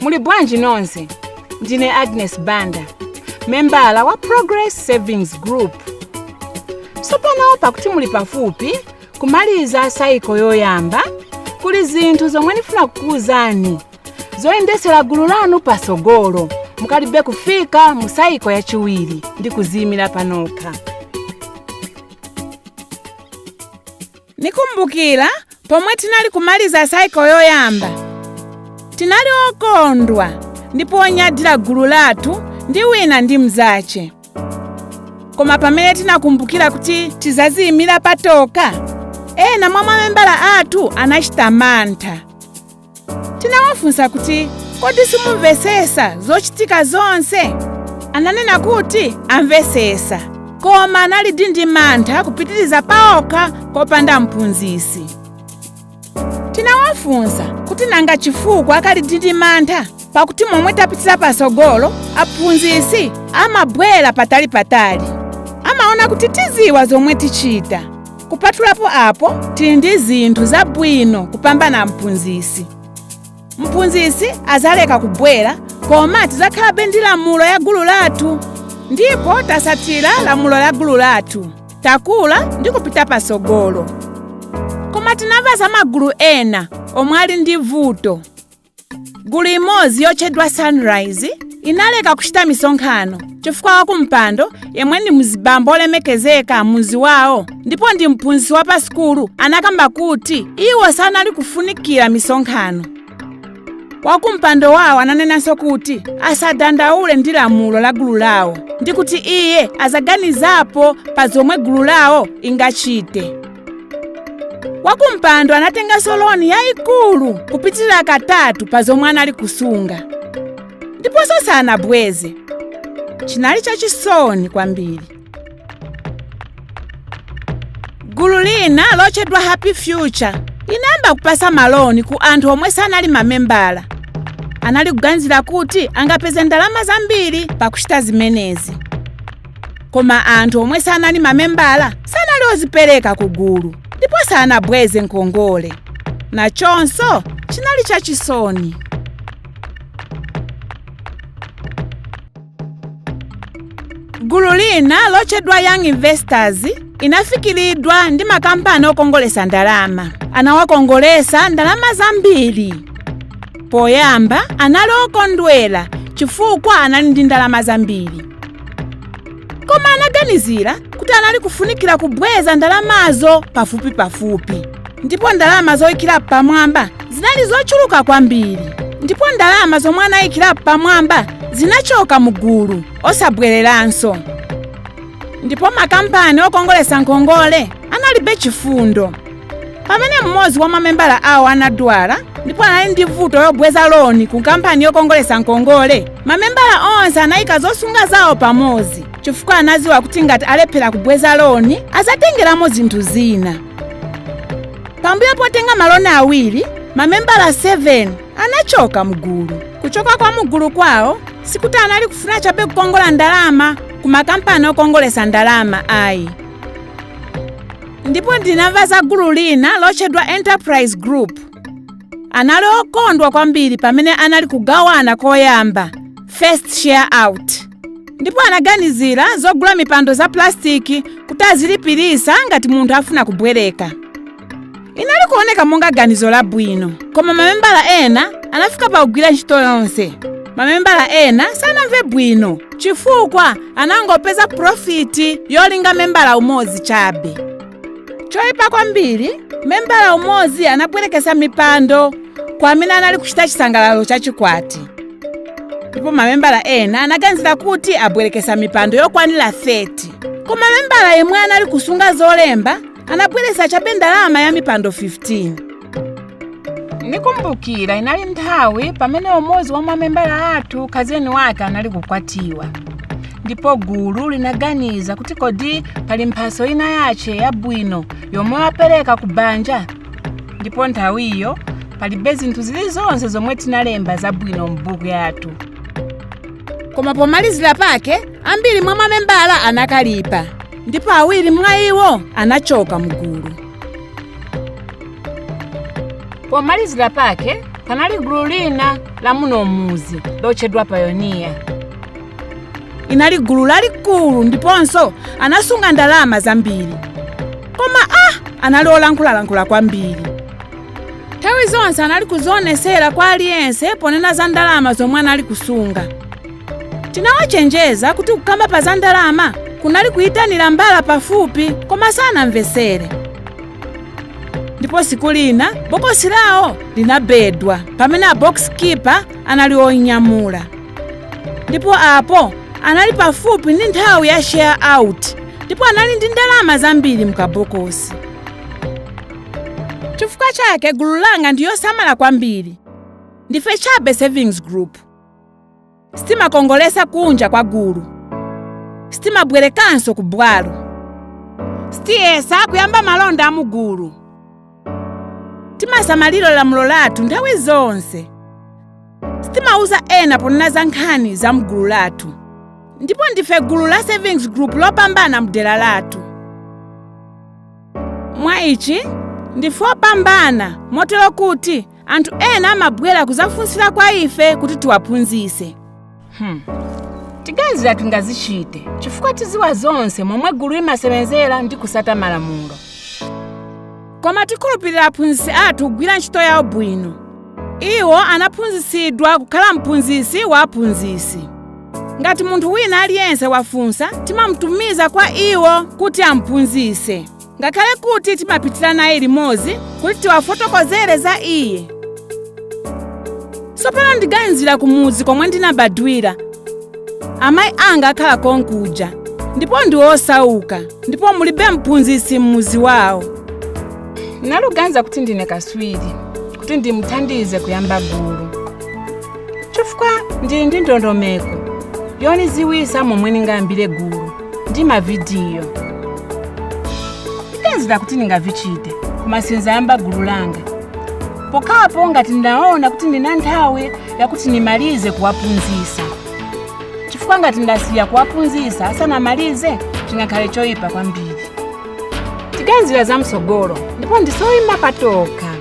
muli bwanji nonse ndine agnes banda membala wa progress savings group sopano pakuti muli pafupi kumaliza sayiko yoyamba kuli zinthu zomwe ndifuna kukuwuzani zoyendesera gulu lanu pasogolo mukalibe kufika mu sayiko yachiwiri ndi kuziyimira panokha nikumbukira pomwe tinali kumaliza saiko yoyamba tinali okondwa ndipo onyadira gulu lathu ndi wina ndi mzace koma pamene tinakumbukira kuti tizaziyimira patoka ena mwa mamembala athu anachita mantha tinawafunsa kuti kodi simumvesesa zochitika zonse ananena kuti amvesesa koma anali ndi mantha kupitiriza paokha kopanda mphunzisi tinawafunsa kuti nanga chifukwa akali ndi mantha pakuti momwe tapitira patsogolo aphunzisi amabwera patali patali amaona kuti tiziwa zomwe tichita kupatulapo apo tili ndi zinthu zabwino kupambana mphunzisi mphunzisi azaleka kubwera koma tizakhalabe ndi lamulo ya gulu lathu ndipo tasatira lamulo la gulu lathu takula ndi kupita patsogolo koma tinamva za magulu ena omwe ali ndi vuto gulu imodzi yotchedwa sunrise inaleka kuchita misonkhano chifukwa wakumpando yemwe ndi mzibambo olemekezeka muzi wawo ndipo ndi mphunzisi wa pa sukulu anakamba kuti iwo sanali kufunikira misonkhano wakumpando wawo ananenanso kuti asadandaule ndi lamulo la gulu lawo ndi kuti iye azaganizapo pa zomwe gulu lawo ingachite wakumpando anatenganso loni yayikulu kupitirira katatu pa zomwe anali kusunga ndiponso sanabweze chinali chachisoni kwambiri gulu lina lotchedwa happy future inayamba kupasa maloni ku anthu omwe sanali mamembala anali kuganizira kuti angapeze ndalama zambiri pakuchita zimenezi koma anthu omwe sanali mamembala sanali ozipereka ku gulu ndipo sanabweze nkongole nachonso chinali chachisoni gulu lina lotchedwa young investors inafikiridwa ndi makampani okongolesa ndalama anawakongolesa ndalama zambiri poyamba anali okondwera chifukwa anali ndi ndalama zambiri koma anaganizira kuti anali kufunikira kubweza ndalamazo pafupipafupi ndipo ndalama zoyikira pamwamba zinali zochuluka kwambiri ndipo ndalama zomwe anayikira pamwamba zinachoka mugulu osabwereranso ndipo makampani okongolesa nkongole analibe chifundo pamene mmodzi wa mamembala awo anadwala ndipo anali ndi vuto yobweza loni ku kampani yokongolesa nkongole mamembala onse anayika zosunga zawo pamodzi chifukwa anadziwa kuti ngati alephera kubweza loni azatengeramo zinthu zina pambuyo potenga maloni awiri mamembala 7 anachoka mgulu kuchoka kwa mugulu kwawo sikuti anali kufuna chabe kukongola ndalama ku makampani okongolesa ndalama ayi ndipo ndinamva za gulu lina lotchedwa enterprise group anali okondwa kwambiri pamene anali kugawana koyamba first share out ndipo anaganizira zogula mipando za pulasitiki kuti azilipirisa ngati munthu afuna kubwereka inali kuoneka monga ganizo labwino koma mamembala ena anafika pa kugwira ntchito yonse mamembala ena sanamve bwino chifukwa anangopeza profiti yolinga membala umodzi chabe choyipa kwambiri membala umodzi anabwerekesa mipando kwa amene anali kuchita chisangalalo cha chikwati ndipo mamembala ena anaganizira kuti abwerekesa mipando yokwanira 30 koma membala yemwe anali kusunga zolemba anabweresa chabe ndalama ya mipando 15 nikumbukira inali nthawi pamene umodzi wa mamembala athu kazeni wake anali kukwatiwa ndipo gulu linaganiza kuti kodi pali mphaso ina yace yabwino yomwe wapereka ku banja ndipo nthawiyo palibe zinthu zilizonse zomwe tinalemba zabwino m'buku yathu koma pomalizira pake ambiri mwa mamembala anakalipa ndipo awiri mwa iwo anachoka mugulu pomalizira pake panali gulu lina la muno m'mudzi lotchedwa pioneer inali gulu lalikulu ndiponso anasunga ndalama zambiri koma ah anali olankhulalankhula kwambiri nthawi zonse anali kuzionesera kwa aliyense ponena za ndalama zomwe anali kusunga tinawachenjeza kuti kukamba pa za ndalama kunali kuyitanira mbala pafupi koma sanamvesere ndipo siku lina bokosi lawo linabedwa pamene a box keeper anali oyinyamula ndipo apo anali pafupi ndi nthawi ya share out ndipo anali ndi ndalama zambiri mukabokosi chifukwa chake gulu langa ndiyosamala kwambiri ndife chabe savings group sitimakongolesa kunja kwa gulu sitimabwerekanso ku bwalo sitiyesa kuyamba malonda a mugulu timasamalira lamulo lathu nthawi zonse sitimauza ena ponena za nkhani za mgulu lathu ndipo ndife gulu la savings group lopambana mdera lathu mwa ichi ndife opambana motero kuti anthu ena amabwera kuzafunsira kwa ife kuti tiwaphunzise tiganizira tingazichite chifukwa tiziwa zonse momwe gulu limasebenzera ndi kusata malamulo koma tikhulupirira aphunzitsi athu kugwira ntchito yawo bwino iwo anaphunzisidwa kukhala mphunzisi wa aphunzisi ngati munthu wina aliyense wafunsa timamutumiza kwa iwo kuti amphunzise ngakhale kuti timapitira naye limodzi kuti tiwafotokozere za iye sopano ndiganizira kumudzi komwe ndinabadwira amayi anga akhala konkuja ndipo ndi osauka ndipo mulibe mphunzisi m'muzi wawo naluganiza kuti ndine kaswiri kuti ndimuthandize kuyamba gulu chifukwa ndili ndi ndondomeko yoniziwisa momwe ndingayambire gulu ndi mavidiyo ndiganizira kuti ndingavichite koma sinzayamba gulu langa pokhapo ngati ndaona kuti ndina nthawi yakuti ndimalize kuwaphunzisa chifukwa ngati ndasiya kuwaphunzisa asanamalize chingakhale choyipa kwambiri tiganizira za mtsogolo ndipo ndife oyima patokha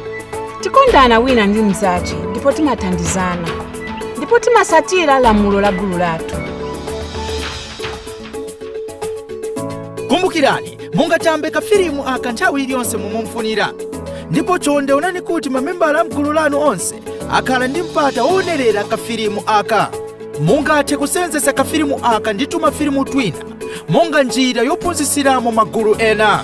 tikondana wina ndi mzache ndipo timathandizana ndipo timasatira lamulo la gulu lathu kumbukirani mungatambe kafilimu aka nthawi iliyonse mumufunira ndipo chonde onani kuti mamembala a mgulu lanu onse akhala ndi mpata woonerera kafilimu aka mungathe kusenzesa kafilimu aka ndi tumafilimu twina monga njira yophunzisiramo magulu ena